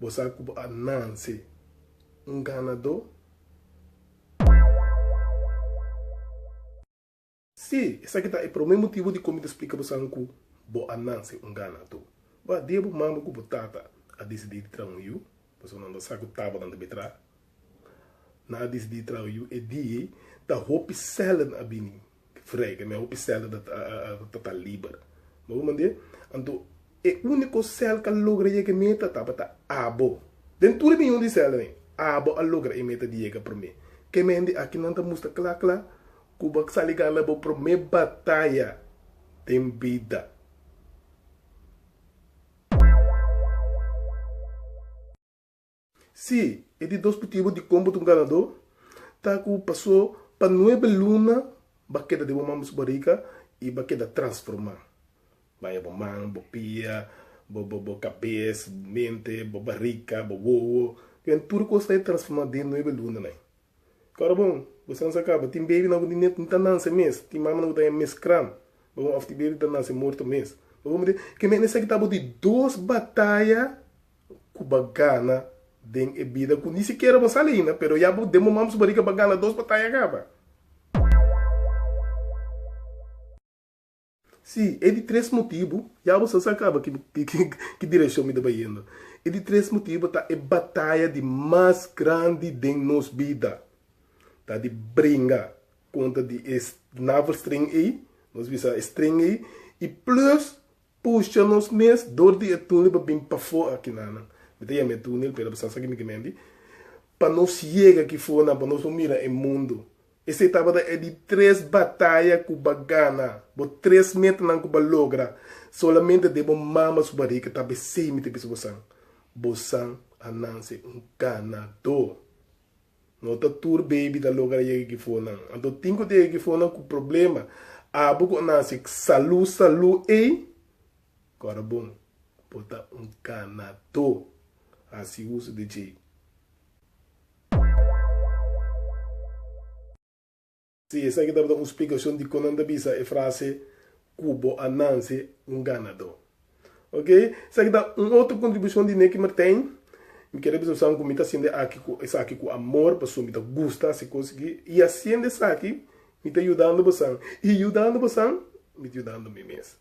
Bo sa ku bo a nance un ganadó? Sí, esaki ta e promé motibu di kominta splika bo san ku bo a nance un ganadó. Bo a dia bo mama ku bo tata a disidí di traha un yu, pasobra nan ta sa ku tabanan ta bai traha. Nan a disidí traha yu e dia ei, ta hopi sèlènan a bini frega, mi a hopi sèl a ta liber. Bo wak manera? Anto, e úniko sèl k'a logra yega e meta tabata abo. Den tur e miyon di sèlnan ei, abo a logra e meta di yega promé. Ke mende aki nan ta mustra kla kla ku bo a sali gana bo promé bataya den bida. Sí, e di dos putibu di kon bo ta un ganadó, ta ku pasó pa nuebe luna ba keda den bo mama su barika i ba keda transformá. Baña bo man, bo pia, bo kabes, bo mente, bo barika, bo wowo, kuende tur kos ta e transformá den nuebe lunanan ei. Kòrda bon, bo esnan sa kaba, tin bebinan ku ni net ni ta nanse mes, tin mamanan ku ta haña mes kram, bo bon òf tin bebi ku ta nanse morto mes. Bo bon mester ke mihende sa ki ta abo di dos bataya ku ba gana den e bida ku ni sikiera bo sal ainda, pero ya bo demomam su bariga pa gana dos bataya kaba. Sí, e di tres motibu, ya bo sa sa kaba ki direkshon mi ta bai yendo. E di tres motibu ta e bataya di mas grandi den nos bida. Ta di bringa kontra di e navelstring ei, nos bisa e string ei, i plus Pusha nos mes dor di e tunel pa bin pafó aki nanan. Mi ta yama e tunel, pero pasobra esaki mi kimendi. Pa nos yega aki for nan, pa nos por mira e mundu. Esei tabata e di tres bataya ku bo a gana, bo tres metanan ku bo a logra. Solamente den bo mama su bariga tabata esei mi ta bisa bosan. Bosan a nanse un ganadó. No ta tur baby ta logra yega ki fonan. Anto tin ku ta yega ki fonan ku problema. Abo ku a nase salu salu ey kòrda bon bo ta un kanató. Hasi uso di djei. Si esaki tabata un splikashon di kon nan ta bisa e frase Ku bo a nase un ganadó. Oke, esaki ta un otro kontribushon di Neky Martijn. Mi kere bisa boso ku mi ta hasiendo esaki ku amor, pasobra mi ta gusta hasi kos aki. I hasiendo esaki mi ta yudando boso, i yudando boso mi ta yudando mi mes.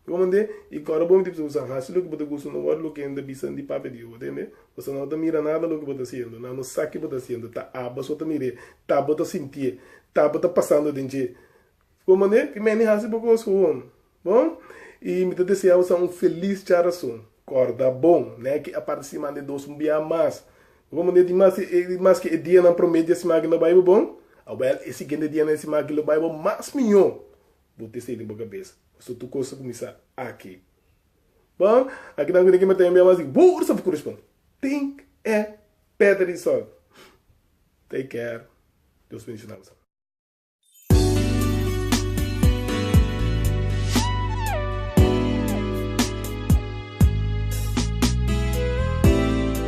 Bo mande i kòrda bo mintip so bo sa hasi loke bo ta gusta no wòrdu loke hende bisan di papia di Yehova ta hende. Bo sa nau ta mira nada loke bo ta hasiendo, nan no sa ke bo ta hasiendo, ta aba so ta mir'é, ta bo ta sintié, ta bo ta pasando den dje. Bo mande i mene hasi bo kos huon. Bon, i mi ta desea bo sa un felis charason. Kòrda bon, n'e ki a parti siman den dos un biaha mas. Bo ta mande di mas di maske e dianan promé dje siman aki lo bai bo bon. Awèl, e siguiente dianan e siman aki lo bai bo mas mihó. Bo te senti bo kabesa, Paso tur kos ta kuminsá aki. Bon, aki nan ku Nicky Mateo mihua mas di boor sa por kurespon. Tink e peta di sol. Take care. Dios bendishona boso.